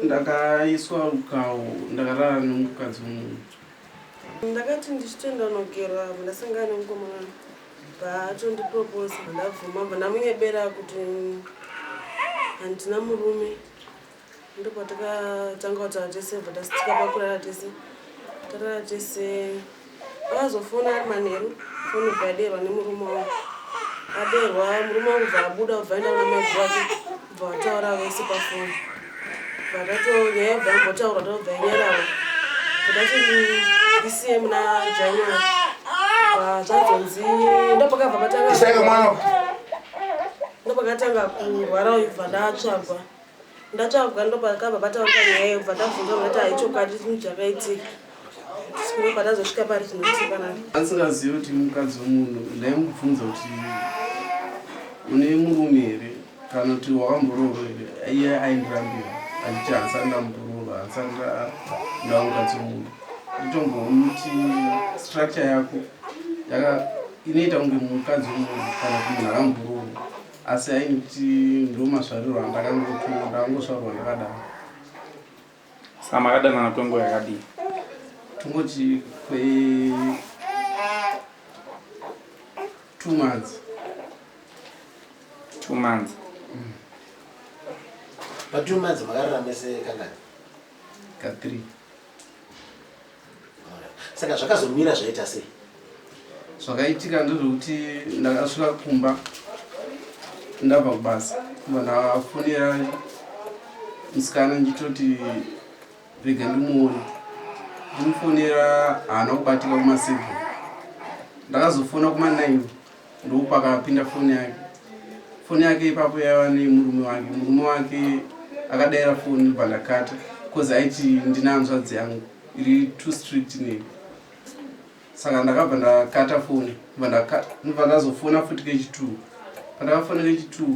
ndakaiswa rukawo ndakarara nemukadzi wemunhu ndakati ndichitoenda kunogera avo ndasangana nemukomana paatondiproposa ndabvuma bva ndamunyebera kuti handina murume ndopatakatanga kutaura tese bva tastika pakurara tese tarara tese Akazofona ari manheru foni ibva yadeerwa nemurume wangu. Adeerwa murume wangu bva abuda kubva aenda kuna mai wake bva vataura vese pafoni. Bva tato nyaya bva yambotaurwa tobva yanyarara. Todati ndisiye muna January. Bva zvazonzi ndopakabva patanga. Ndopakatanga kurwara bva ndatsvagwa. Ndataurwa ndopakabva pataurwa nyaya iyo bva tabvunzwa kuti hai chokwadi chinhu chakaitika tisikunge patazosvika pari zvinotipanana asingazivi kuti mukadzi wemunhu ndaimubvunza kuti une murume here kana kuti wakamboroorwa here iye aindirambira achiti hansani ndamboroorwa hansani ndava mukadzi wemunhu nditombomuti structure yako inoita kunge mukadzi wemunhu kana kuti munhu akamboroorwa asi hainditi ndomasvarirwa andakangotumwa ndakangosvarwa ndakadaro saka makadanana kwenguva yakadii tungoti kwe two months two months mm. patwo months makarara mese kangani ka three saka zvakazomira zvaita sei zvakaitika ndezvekuti ndakasvika kumba ndabva kubasa kumba ndafonera musikana ndichitoti rega ndimuone ndimufonera haana kubatika kumaseve ndakazofona kuma9 ndokupakapinda foni yake foni yake ipapo yaiva nemurume wake murume wake akadaira foni ndobva ndakata bcause aiti ndina hanzvadzi yangu iri too strict neni saka ndakabva ndakata foni ndobva ndazofona futi kechitwo pandakafona kechitwo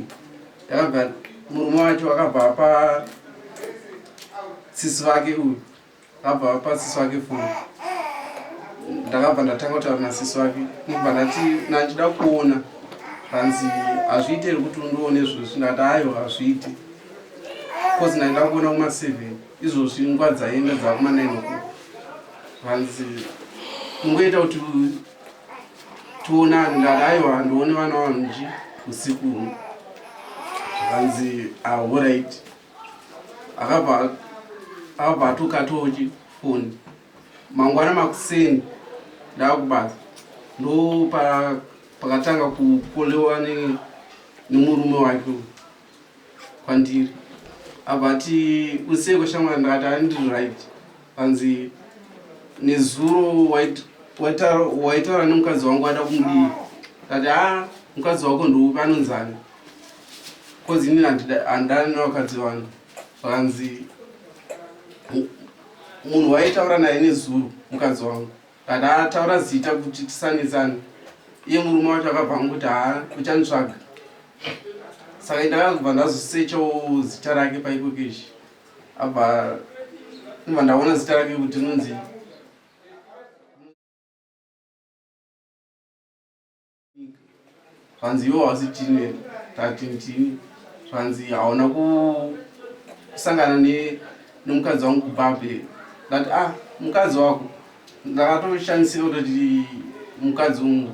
ndakabva murume wacho akabva apa sisi vake uyu Abva apa sisi wake foni. Ndakabva ndatanga kutaura na sisi wake. Ndibva ndati nandida kuona. Hanzi hazviite here kuti undione izvozvi ndati hayo hazviite. Cause ndaida kuona kuma 7 izvozvi nguva dzaienda dzakuma 9 o'clock. Hanzi mungoita kuti tionane ndati hayo handione vana vanhu nji usiku uno. Hanzi ah, all right. akabva akabva atokatawo chifoni mangwana makuseni ndaakubasa ndo pa- pakatanga kukolewa ne- nemurume wake uyu kwandiri abva ati useko shamwari ndakati andiri right Hanzi nezuro waitaura nemukadzi wangu wada kumudii kati ha mukadzi wako ndoupi anonzani bcoz inini handidani nevakadzi vangu vakanzi munhu waitaura naye nezuro mukadzi wangu kati ha taura zita kuti tisanetsane iye murume wacho akabva angu kuti ha uchanditsvaga saka ndakakubva ndazosechawo zita rake paikokeshi apa ndobva ndaona zita rake kuti rinonzi zvanzi iwo hausi tine tatintini zvanzi hauna kusangana nemukadzi wangu kubhabhe that ah mukadzi wako ndakatoshandisira kutoti mukadzi ungu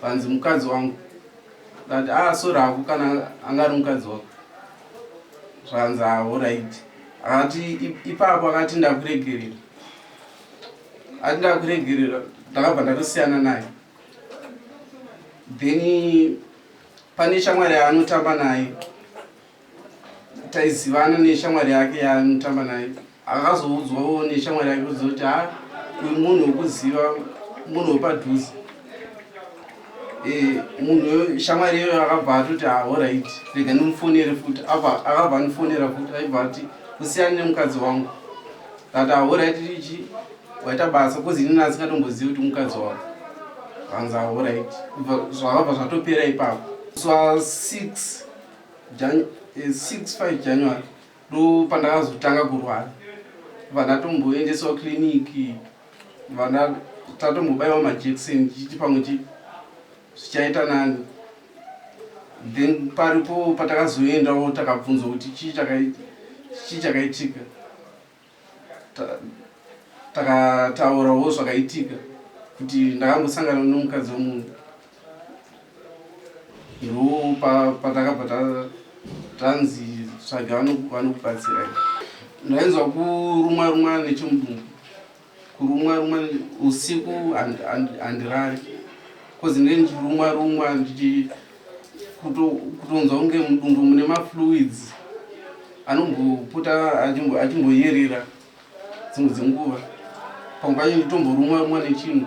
zvanzi mukadzi wangu that ah sorry hako kana anga ari mukadzi wako zvanzi ahoraiti akati ipapo akati ndakuregerera ati ndakuregerera ndakabva ndatosiyana naye then pane shamwari yaanotamba naye taizivana neshamwari yake yaanotamba naye akazoudzwawo neshamwari yake kuziva kuti ha uyu munhu wekuziva munhu wepadhuze eh, munhu shamwari iyoyo akabva atoti ahorit ah, rega ndimufonere futi apa akabva andifonera futi aibva ati kusiyana nemukadzi wangu kati ahorit ah, ichi waita basa kozi inini asingatombozivi kuti mukadzi wako hanzi ahorit ah, zvakabva zvatopera ipapo swa 6 5 january Ndopandakazotanga kurwara vana tomboendeswa clinic vana tatombobaiwa majekiseni chichi pamwe chi zvichaita nani then paripo patakazoendawo takabvunzwa kuti chii chakaitika takataurawo zvakaitika kuti ndakangosangana nomukadzi wemunhu ndo patakabva tanzi tsvaga vanokubatsirai ndainzwa kurumwa rumwa nechimudumbu kurumwa rumwa usiku handirari kozi ndee ndichirumwa rumwa ndichi kutonzwa kunge mudumbu mune mafluids anombopota achimboyerera dzimwe dzenguva pamwe pacho nditomborumwa rumwa nechinhu